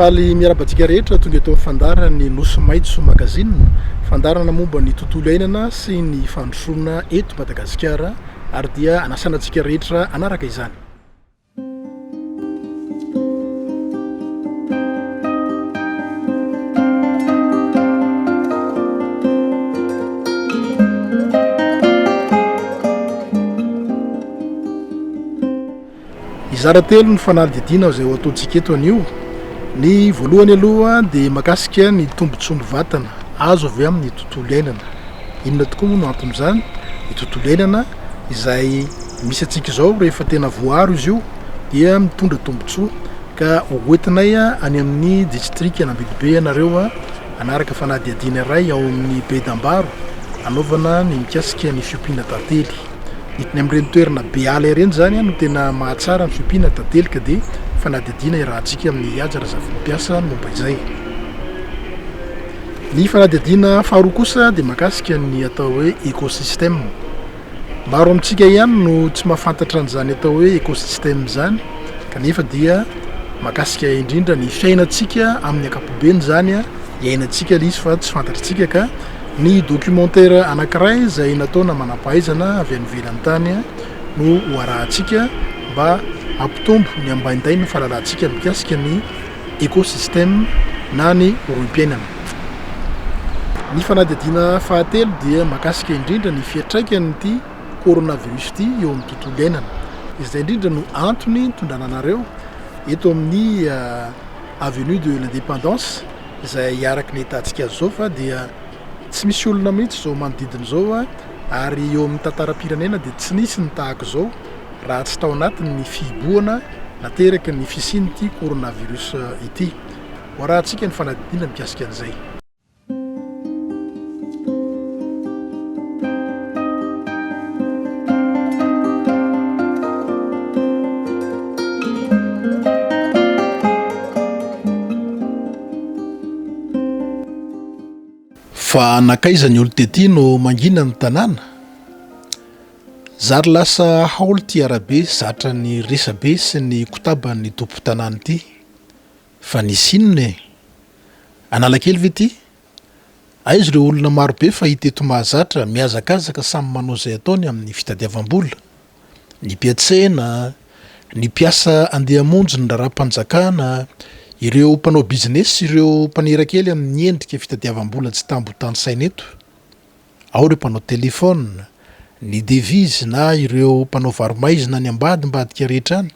Faly miarahaba antsika rehetra tonga eto amin'ny fandaharan'ny Nosy Maitso Magazine, fandaharana momba ny tontolo iainana sy ny fandrosoana eto Madagasikara ary dia anasana antsika rehetra hanaraka izany. Hizara telo ny fanadidina izay ho ataontsika eto anio. Ny voalohany aloha dia makasika ny tombontsoan'ny vatana azo avy amin'ny tontolo iainana. Inona tokoa moa no anton'izany? Ny tontolo iainana izay misy antsika izao rehefa tena voaaro izy io dia mitondra tombontsoa ka hoentinay any amin'ny distrika Nambidibe ianareo hanaraka fanadihadiana iray ao amin'ny Bedambaro hanaovana ny mikasika ny fiompiana tantely. Ny amin'ireny toerana be ala ireny izany no tena mahatsara ny fiompiana tantely ka dia fanadihadiana iarahantsika amin'i Ihija Razafimpiasa ny momba izay. Ny fanadihadiana faharoa kosa dia mahakasika ny atao hoe écosystème. Maro amintsika ihany no tsy mahafantatra an'izany atao hoe écosystème izany kanefa dia mahakasika indrindra ny fiainantsika amin'ny ankapobeny izany a, iainantsika ilay izy fa tsy fantatritsika ka ny documentaire anankiray izay nataona manam-pahaizana avy any ivelany tany no ho arahantsika mba hampitombo ny ambaindain'ny fahalalantsika mikasika ny Écosystème na ny rohim-piainana. Ny fanadihadiana fahatelo dia mahakasika indrindra ny fiantraikan'ity coronavirus ity eo amin'ny tontolo iainana. Izay indrindra no antony nitondrana anareo eto amin'ny Avenue de l'Indépendance izay araka ny ahitantsika azy izao fa dia tsy misy olona mihitsy izao manodidina izao ary eo amin'ny tantaram-pirenena dia tsy nisy ny tahaka izao. raha tsy tao anatin' ny fihibohana nateraky ny fisian' ity coronavirus ity. Hoarahantsika ny fanadindiana mikasika an' izay. Fa nankaiza ny olon-tety no mangina ny tanàna? Zary lasa haolo ity arabe zatra ny resabe sy ny kotaban'ny tompon-tanàna ity. Fa nisy inona e? Analakely ve ity? Aiza ireo olona marobe fahita eto mahazatra mihazakazaka samy manao izay ataony amin'ny fitadiavam-bola? Ny mpiantsena, ny mpiasa andeha hamonjy ny raharaham-panjakana, ireo mpanao bizinesy sy ireo mpanera kely amin'ny endrika fitadiavam-bola tsy tambo tanisaina eto. Ao ireo mpanao telefaona, ny devizy na ireo mpanao varo-maizina any ambadimbadika rehetra any,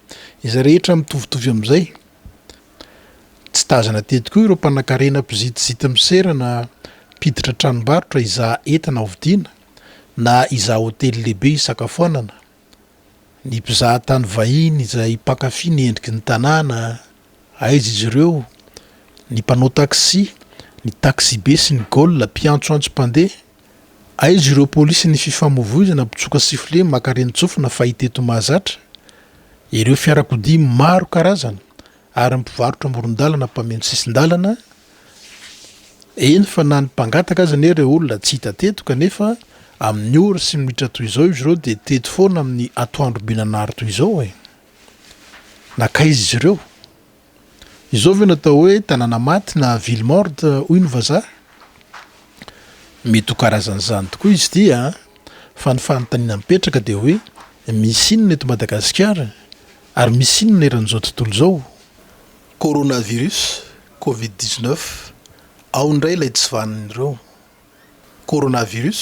izay rehetra mitovitovy amin'izay. Tsy tazana teto koa ireo mpanankarena mpizitizity misera na mpiditra tranombarotra hizaha entana hovidiana na hizaha hotely lehibe hisakafoanana. Ny mpizaha tany vahiny izay mpankafy ny endriky ny tanàna, aiza izy ireo? Ny mpanao taxi, ny taxibe sy ny gola, mpiantsoantso mpandeha, aiza ireo polisy ny fifamoivoizana, mpitsoka sifflet, maka renin-tsofina fahita eto mahazatra, ireo fiarakodia maro karazana ary ny mpivarotra amoron-dalana mpameno sisin-dalana, Eny fa na ny mpangataka aza anie ireo olona tsy hita teto kanefa amin'ny ora sy minitra toy izao izy ireo dia teto foana amin'ny atoandro be nanary toy izao e! Nankaiza izy ireo? Izao ve no atao hoe tanàna maty na ville morte hoy ny vazaha? Mety ho karazan'izany tokoa izy ity an! Fa ny fanontaniana mipetraka dia hoe misy inona eto Madagasikara? Ary misy inona eran'izao tontolo izao? Coronavirus, covid dix neuf, ao indray ilay tsy vanin'ireo. Coronavirus,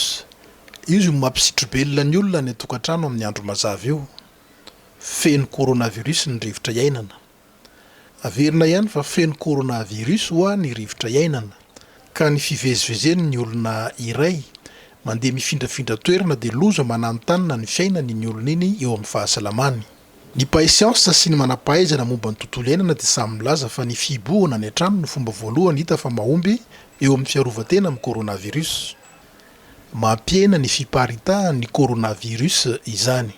io izay mampisitro-belona ny olona any an-tokantrano amin'ny andro mazava io. Feno coronavirus ny rivotra iainana. Averina ihany fa feno coronavirus ho'a ny rivotra iainana, ka ny fivezivezen'ny olona iray mandeha mifindrafindra toerana dia loza mananontanona ny fiainany iny olona iny eo amin'ny fahasalamany. Ny mpahay siansa sy ny manam-pahaizana momba ny tontolo iainana dia samy milaza fa ny fihibohana any an-trano no fomba voalohany hita fa mahomby eo amin'ny fiarovan-tena amin'ny coronavirus. Mampihena ny fiparitahan'ny coronavirus izany.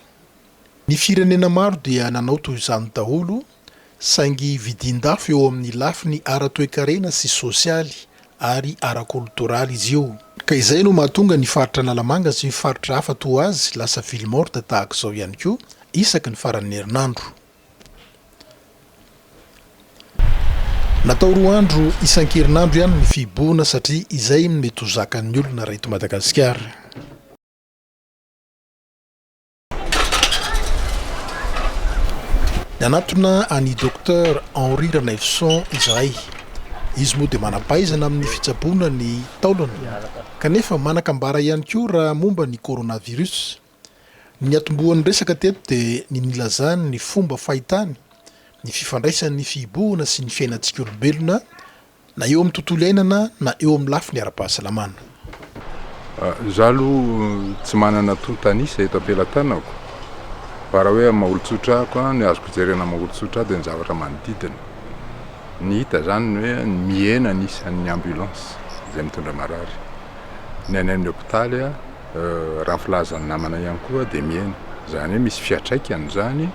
Ny firenena maro dia nanao toy izany daholo Saingy vidin-dafo eo amin'ny lafiny ara-toekarena sy sosialy ary ara-kolotoraly izy io. Ka izay no mahatonga ny faritra Analamanga sy faritra hafa toa azy lasa ville morte tahaka izao ihany koa isaky ny faran'ny herinandro. Natao roa andro isan-kerinandro ihany ny fihibohana satria izay no mety ho zakan'ny olona raha eto Madagasikara. Nanatona an'i Docteur Henri Ranaivoson izahay. Izy moa dia manam-pahaizana amin'ny fitsaboana ny taolana, kanefa manan-kambara ihany koa raha momba ny coronavirus. Ny niatombohan'ny resaka teto dia ny nilazany ny fomba fahitany ny fifandraisan'ny fihibohana sy ny fiainantsika olombelona Na eo amin'ny tontolo iainana na eo amin'ny lafiny ara-pahasalamana. Izaho aloha tsy manana tonta an'isa eto am-pelatanako fa raha hoe amin'ny maha-olon-tsotra ahy koa, ny azoko jerena amin'ny maha-olon-tsotra ahy dia ny zavatra manodidina. Ny hita izany ny hoe mihena ny isan'ny ambulance izay mitondra marary. Ny any amin'ny hopitaly, raha ny filazan'ny namana ihany koa dia mihena. Izany hoe misy fiantraikany izany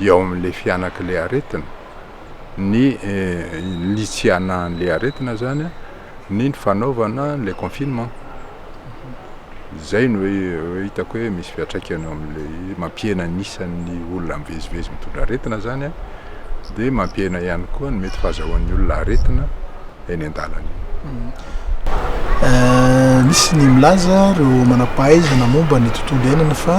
eo amin'ilay fihanak'ilay aretina. ny ny tsy hanahan'ilay aretina zany ny ny fanaovana ilay confinement, izay no hoe hitako hoe misy fiantraikany eo amin'ilay mampihena ny isan'ny olona mivezivezy mitondra aretina zany an, dia mampihena ihany koa ny mety fahazahoan'ny olona aretina. eny an-dalana eny. Misy ny milaza ireo manam-pahaizana momba ny tontolo iainana fa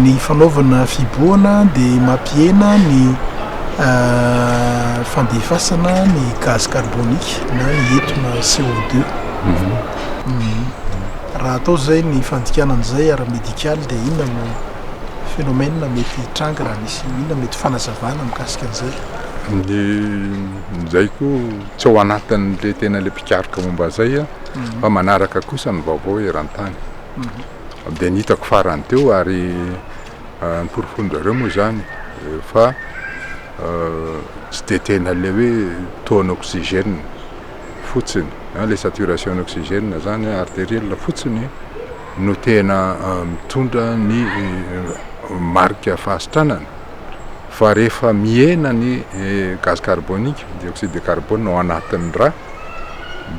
ny fanaovana fihibohana dia mampihena ny fandefasana ny gaz carbonique na ny etona CO2. Raha atao izay ny fandikana an'izay ara-medikaly dia inona no phénomène mety hitranga raha misy, inona mety fanazavana mikasika an'izay? Izay koa tsy ao anatin'ilay tena ilay mpikaroka momba izay aho fa manaraka kosa ny vaovao eran-tany. Dia ny hitako farany teo ary noporofoin-dry zareo moa izany fa tsy dia tena ilay hoe taux an'oxygène fotsiny, ilay saturation an'oxygène izany artériel fotsiny no tena mitondra ny marika fahasitranana. Fa rehefa mihena ny gaz carbonique, dioxyde de carbone, ao anatin'ny rà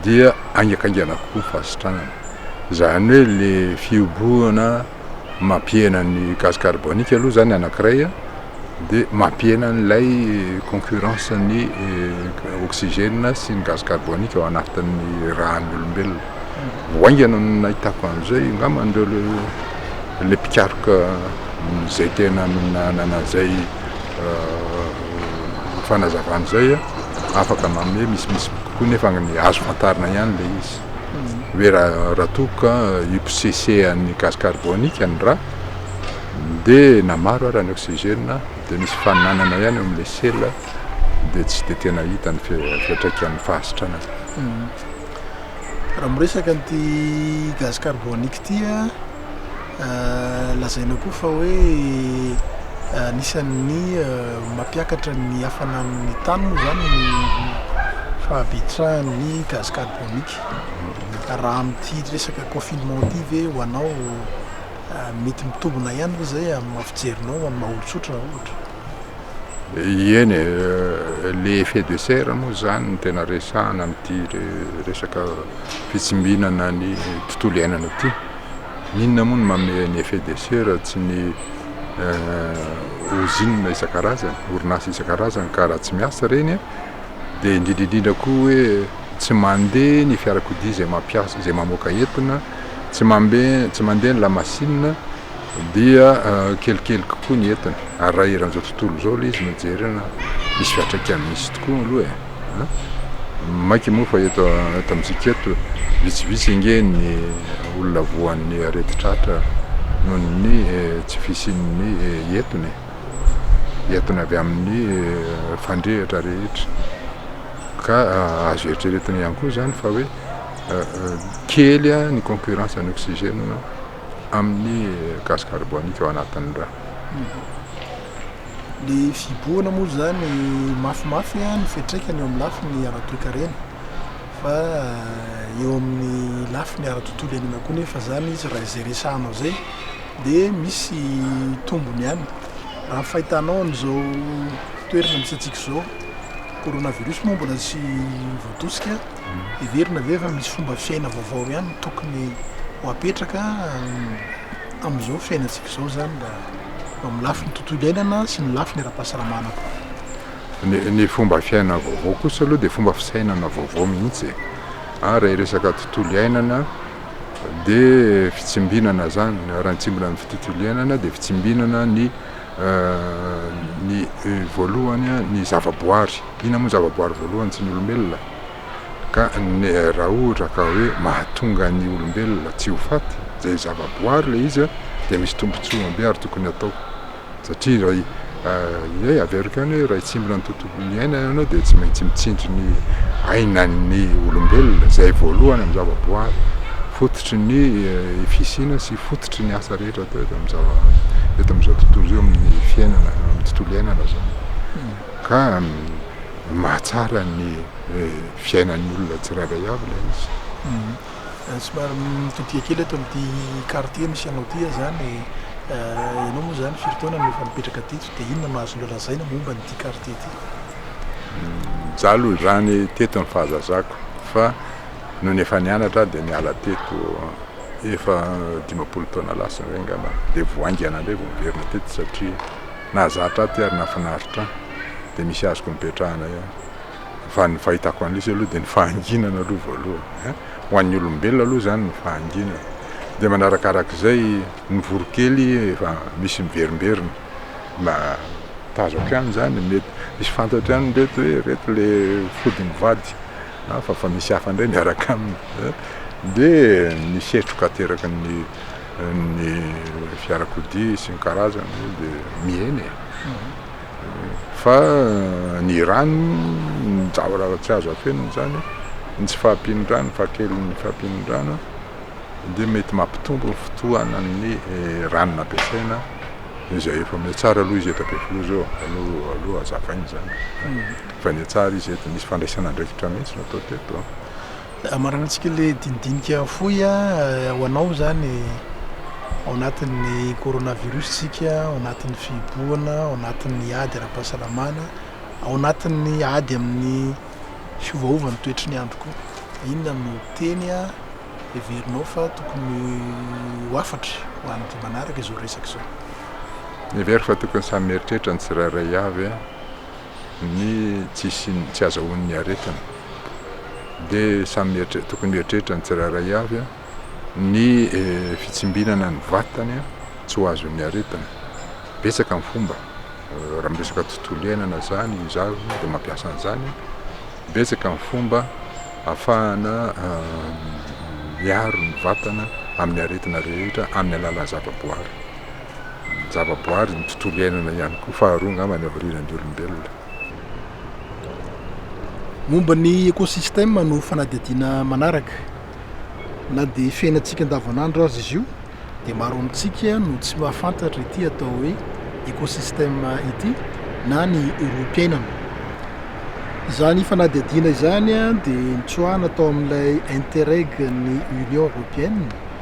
dia haingankaingana kokoa ny fahasitranana. Izany hoe ilay fihobohana mampihena ny gaz carbonique aloha izany anankiray dia mampihena an'ilay concurrence ny oxygène sy ny gaz carbonique ao anatin'ny ràn'ny olombelona. vao haingana no nahitako an'izay, angamba an'ireo ilay mpikaroka izay tena nanana an'izay fanazavana izay afaka manome misimisy kokoa nefa ny azo fantarina ihany ilay izy hoe raha raha toa ka hiposesehan'ny gaz carbonique ny rà dia na maro ara ny oxygène dia misy faninanana ihany eo amin'ilay sela dia tsy dia tena hita ny fiantraikan'ny fahasitranana. Raha miresaka an'ity gaz carbonique ity lazaina koa fa hoe anisan'ny mampiakatra ny hafanan'ny tany moa izany ny fahabetsahan'ny gaz carbonique. Raha amin'ity resaka confinement ity ve ho anao mety mitombina ihany ve izay amin'ny maha fijerinao amin'ny maha olon-tsotra ohatra? Eny e, le effet de serre moa zany no tena resahana amin'ity resaka fitsimbinana ny tontolo iainana ity. Inona moa no manome ny effet de serre tsy ny ozinina isan-karazany, orinasa isan-karazany ka raha tsy miasa ireny an, dia indrindra indrindra koa hoe tsy mandeha ny fiarakodia izay mampiasa, izay mamoaka entona, tsy mandeha ny lamasinina. Dia kelikely kokoa ny entana. Ary raha eran'izao tontolo izao ilay izy no jerena, misy fiantraikany misy tokoa aloha e! Maika moa fa eto amintsika eto, vitsivitsy ange ny olona voan'ny aretin-tratra noho ny tsy fisian'ny entona e! Entona avy amin'ny fandrehitra rehetra. Ka azo eritreretina ihany koa izany fa hoe kely ny concurrence an'oxygène. amin'ny gaz carbonique ao anatin'ny rà. Ny fihibohana moa izany mafimafy ny fiantraikany eo amin'ny lafiny ara-toekarena fa eo amin'ny lafiny ara-tontolo iainana koa nefa izany izy raha izay resahanao izay dia misy tombony ihany. Raha ny fahitanao an'izao toerana misy antsika izao, coronavirus moa mbola tsy voatosika. Heverina ve fa misy fomba fiaina vaovao ihany no tokony ho apetraka amin'izao fiainantsika izao izany mba eo amin'ny lafiny tontolo iainana sy ny lafiny ara-pahasalamana koa? Ny ny fomba fiaina vaovao kosa aloha dia fomba fisainana vaovao mihitsy e! ary raha hiresaka tontolo iainana dia fitsimbinana izany, raha ny tsimbina ny tontolo iainana dia fitsimbinana ny ny voalohany ny zavaboary, Inona moa ny zavaboary voalohany tsy ny olombelona? Ka raha ohatra ka hoe mahatonga ny olombelona tsy ho faty, izay zavaboary ilay izy an, dia misy tombontsoany be ary tokony hatao. Satria raha iray averiko ihany hoe raha hitsimbina ny tontolon'ny aina ianao dia tsy maintsy mitsindry ny ainan'ny olombelona izay voalohany amin'ny zavaboary, fototry ny fisiana sy fototry ny asa rehetra atao eto amin'ny zava- eto amin'izao tontolo izao, amin'ny fiainana, amin'ny tontolo iainana izany. Ka ny mahatsara ny fiainan'ny olona tsirairay avy ilay izy. Somary mitodika kely eto amin'ity quartier misy anao ity aho izany. Ianao moa izany firy taona no efa nipetraka teto dia inona no azonao lazaina momba an'ity quartier ity? Izaho aloha izany teto ny fahazazako fa nony efa nianatra aho dia niala teto efa dimampolo taona lasa eo angamba, dia vao haingana indray vao niverina teto satria. Nahazatra ahy ity ary nahafinaritra ahy dia misy azoko nipetrahana ihany fa ny fahitako an'lisy aloha dia ny fahanginana aloha voalohany a! ho an'ny olombelona aloha izany ny fahanginana dia manarakarak'izay ny voronkely efa misy miverimberina mba tazako ihany izany mety misy fantatro ihany ireto hoe ireto le fody mivady hafa fa misy hafa indray miaraka aminy dia ny setroka ateraky ny ny fiarakodia isan-karazany dia mihena e. Fa ny rano, ny zavatra tsy azo afenina izany, ny tsy fahampian'ny rano, ny fahakelin'ny fahampian'ny rano dia mety mampitombo ny fotoanan'ny rano nampiasaina izay efa mety tsara aloha izy eto Ampefiloha izao aloha aloha hazavaina izany. Efa nihatsara izy eto, nisy fandraisana andraikitra mihitsy natao teto. Hamaranantsika ilay dinidinika fohy ho anao izany ao anatin'ny coronavirus isika, ao anatin'ny fihibohana, ao anatin'ny ady ara-pahasalamana, ao anatin'ny ady amin'ny fiovaovan'ny toetry ny andro koa. Inona no teny heverinao fa tokony ho hafatra ho an'ny manaraka izao resaka izao? Mihevero fa tokony samy mieritreritra ny tsirairay avy. ny tsy hisian'ny, tsy hazahoan'ny aretina dia samy mieritre- tokony mieritreritra ny tsirairay avy ny fitsimbinana ny vatany tsy ho azon'ny aretina, betsaka ny fomba, raha miresaka tontolo iainana zany izaho dia mampiasa an'izany, betsaka ny fomba afahana miaro ny vatana amin'ny aretina rehetra amin'ny alalan'ny zavaboary. ny javaboary, ny tontolo iainana ihany koa, faharoa angamba ny havarianan'ny olombelona. Momba ny ekosistema no fanadihadiana manaraka. Na dia fiainantsika andavanandro aza izy io dia maro amintsika no tsy mahafantatra ity atao hoe ekosistema ity na ny olom-piainana. Izany fanadihadiana izany dia nitsoahana tao amin'ilay Interreg ny Union Européenne,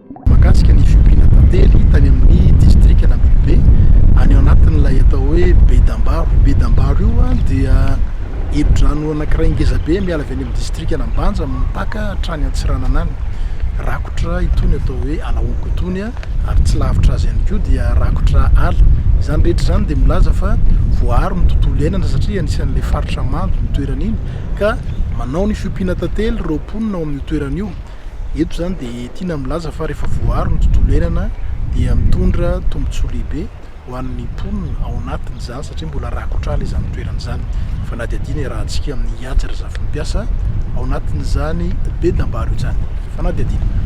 Mahakasika ny fiompiana tantely tany amin'ny distrikan'Ambitobe, any anatin'ilay atao hoe Bedambaro. Io Bedambaro io dia efidrano anankiray ngeza be miala avy any amin'ny distrikan'Ambanja mipaka hatrany Antsiranana any. Rakotra itony atao hoe Alaonko itony ary tsy lavitra azy ihany koa dia rakotra ala. Izany rehetra izany dia milaza fa voaaro ny tontolo iainana satria anisan'ilay faritra mando ny toerana iny ka manao ny fiompiana tantely ireo mponina ao amin'io toerana io. Eto izany dia tiana milaza fa rehefa voaaro ny tontolo iainana dia mitondra tombontsoa lehibe ho an'ny mponina ao anatiny izany satria mbola rakotra ala izany toerana izany. Fanadihadiana iarahantsika amin'i Ihajy Razafimpiasa ao anatin'izany be dambaro izany. Fanadihadiana.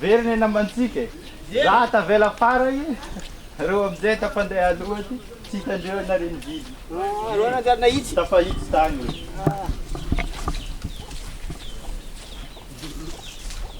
Very ny namantsika e. Za tavela farany, reo amizay efa mpandeha aloha ty, tsy hitandreo na reny vily. Reo nanjary nahitsy. Tafahitsy tany.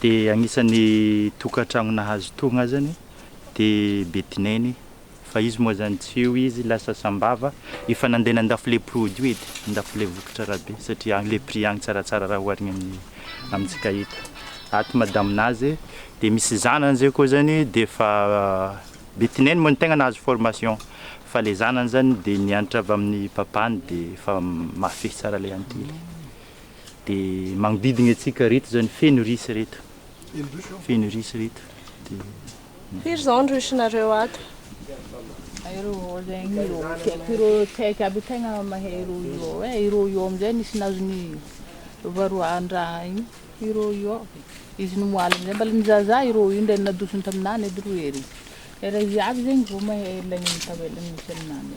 Dia anisan'ny tokantrano nahazo togna azany dia Betineny fa izy moa zany tsy io izy lasa sambava efa nandeha nandafo le produit edy nandafo le vokatra rabe satria agny le prix agny tsaratsara raha oharigny amin'ny amintsika eto ato madame nazy dia misy zanany zay koa zany dia efa Betineny moa no tegna nahazo formation fa le zanany zany dia nianatra avy amin'ny papany dia efa mahafehy tsara le antely. dia magnodidigna antsika reto izany feno risy reto feno risy reto dia firy izao ny risinareo ato ireo zegny ireo tiako ireo tsy haiko aby tegna mahay ireo io e ireo io amizay nisy nahazo ny varoahan-draha igny ireo io izy nimoaly amizay mbala ny zaza ireo io ndray nadosony taminany edy roe ery ery izy aby zegny vao mahay lay tavela nisy aminany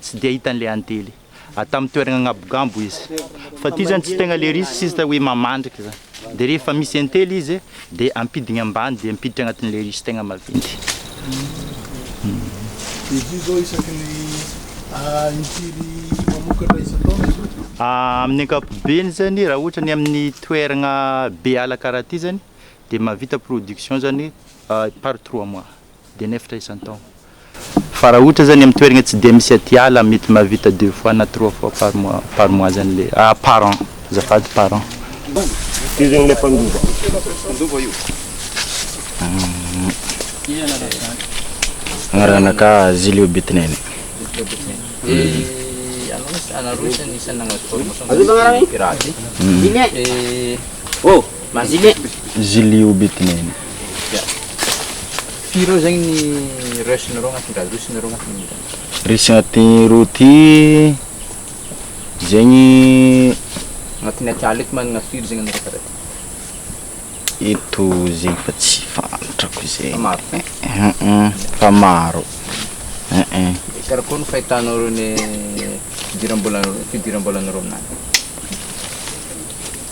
Tsy dia hita an'ilay antely. A tamin'ny toerana angabogambo izy. Fa ity zany tsy tegna le risque sista hoe mamandrika zany. Dia rehefa misy antely izy dia ampidigny ambany dia ampiditra agnatin'ilay risque tegna maventy. Amin'ny ankapobeny zany raha ohatra ny amin'ny toeragna be ala karaha ty zany dia mahavita production zany par trois mois. Dia nefitra isan-taon. Fa raha ohatra zany amin'ny toeragna tsy dia misy aty ala mety mahavita deux fois na trois fois par mois par mois zany le ah par an azafady par an. Io zegny le mpandova. Mpandova io. Iza anarany zany? Agnaranaka Zilio Betinene. Zilio Betinene. Dia anao anareo isan'ny isan'ny nagnano formation de pirate. Dia. Mazile. Zili obitnene. Firy eo zegny ny rush nareo agnatin'ny gaz rush nareo agnatin'ny Rush agnatin'ny roa ty zegny agnatin'ny atiala eto magnana firy zegny anareo karaha ty? Eto zegny fa tsy fantatrako zegny. Fa maro ty? Fa maro. Dia karakôry ny fahitanao ireo ny fidiram-bola fidiram-bolanareo amin'izany?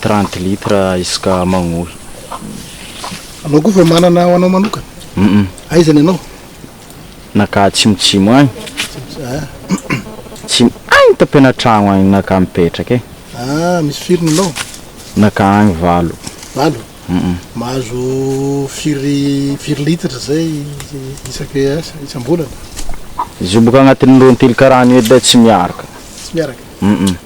trente litre isaka magnohy. Anao koa fa manana ho anao manokana? Hum. Aiza ny anao? Naka atsimotsimo agny. Tsy agny tapenatragno agny naka mipetraka e. Ah misy firy ny anao? Naka agny valo. Valo? Hum. Mahazo firy firy litatra zay isake asa isam-bolana? Izy io boka agnatin'ny roa antily karaha an'io edy tsy miaraka. Tsy miaraka? Hum.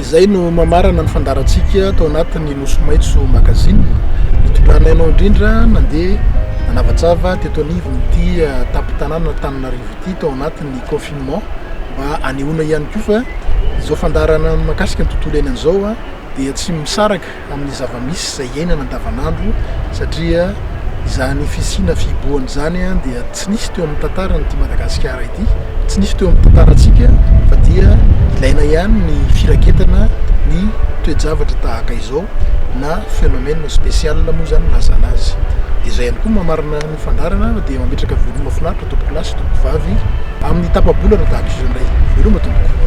Izay no mamarana ny fandaharantsika tao anatin'ny Nosy Maitso Magazine. Nitondranay anao indrindra nandeha nanavatsava teto anivon'ity eh, tampon-tanàna Antananarivo ity tao anatin'ny confinement mba hanehoana ihany koa fa izao fandaharana mikasika ny tontolo iainana izao eh, dia tsy misaraka amin'ny zava-misy izay iainana andavanandro satria izany fisiana fihibohana izany dia tsy nisy teo amin'ny tantaran'ity Madagasikara ity, tsy nisy teo amin'ny tantarantsika fa dia ilaina ihany ny firaketana ny toe-javatra tahaka izao na phénomène spécial moa izany no ilazana azy. Dia izay ihany koa no maha marina ny. Ny fandaharana dia mametraka veloma finaritra tompokolahy sy tompokovavy amin'ny tapa-bolana tahaka izao indray. Veloma tompoko.